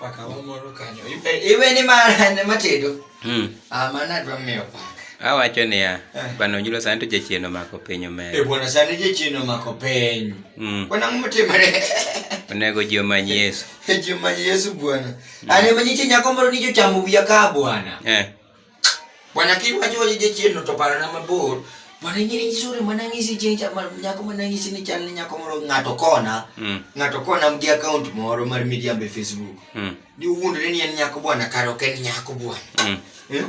Paka wamoro kanyo. Iwe ni ma ne matedo. Hmm. Ah, mana dwa miyo paka. Awacho niya, eh. bwana Onyulo sani to jachien omako piny omedo. Eh, bwana sani jachien omako piny. Hmm. Bwana ng'o motimore? Onego ji omany Yesu. Ji omany Yesu bwana. Hmm. Ane manyiche nyako moro ni jochamo wiya ka bwana. Eh. Bwana kiwacho waje jachien no to parana mabor. Bwana ing'e ni sure mana ng'isi chieng' cha ma- nyako mana ng'isi ni chal ni nyako moro ng'ato kona. Mm. Ng'ato kona gi account moro mar miriambo e Facebook. Mm. Ni wuondre ni en nyako bwana kare ok en nyako bwana. Mm. Eh?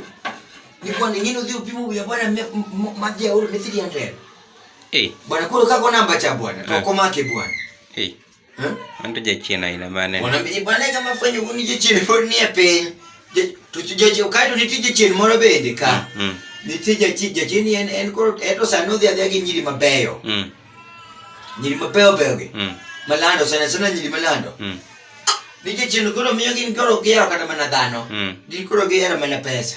Ni bwana ing'e ni odhi opimo wiya bwana me- m- m- ma jaoro ne 300. Eh. Bwana koro kako namba cha bwana to Eh. ok omake bwana. Eh. Anto jachien aina mane? Wanaambia bwana kama fanya uni jachien pod ni e piny. To jachien kae to nitie jachien moro bende ka. Mm. mm. Nitie jachien jachien en en koro eto sano dhi adhiya gi nyiri mabeyo. Mm. Nyiri mabeyo beyo gi. Mm. Malando sana sana nyiri malando. Mm. Nitie jachien koro miyo gin koro gihero kata mana dhano. Mm. Gin koro gihero mana pesa.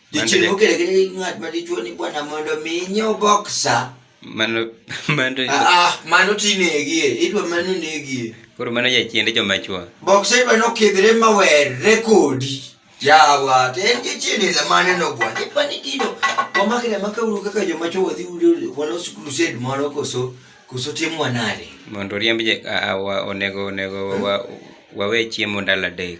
Dichiel mokele gi ng'at ma dichuo ni bwana mondo mi inyiew boksa. Mano mano ah, ah mano tinegie, idwa mano negie. Koro mano jachiend joma chwo. Boksa idwa nokidhre ma werre kodi. Yawa, to en jachiend ila mane no bwana. Idwa ni kido wamakre maka uru kaka joma chwo wadhi udo walos crusade moro koso koso timwa nade. Mondo riemb je onego onego wawe chiemo ndalo adek.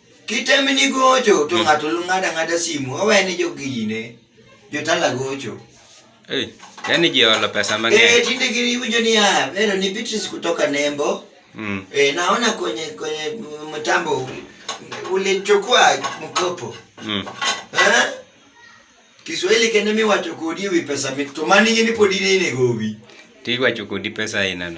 Kitemni gocho to mm. ng'ato ng'ada ng'ada simu owe ni jogine jotala gocho. Hey, yani jiolo pesa mang'eny. Eh, tinde giwinjo ni ya, ah, pero ni Beatrice kutoka Nembo. Mm. Eh, naona kwenye kwenye mtambo ulichukua mkopo. Mm. Eh? Kiswahili kende mi wacho kodi wi pesa mi to mani ni podi ni ne gobi. Ti wacho kodi pesa inano.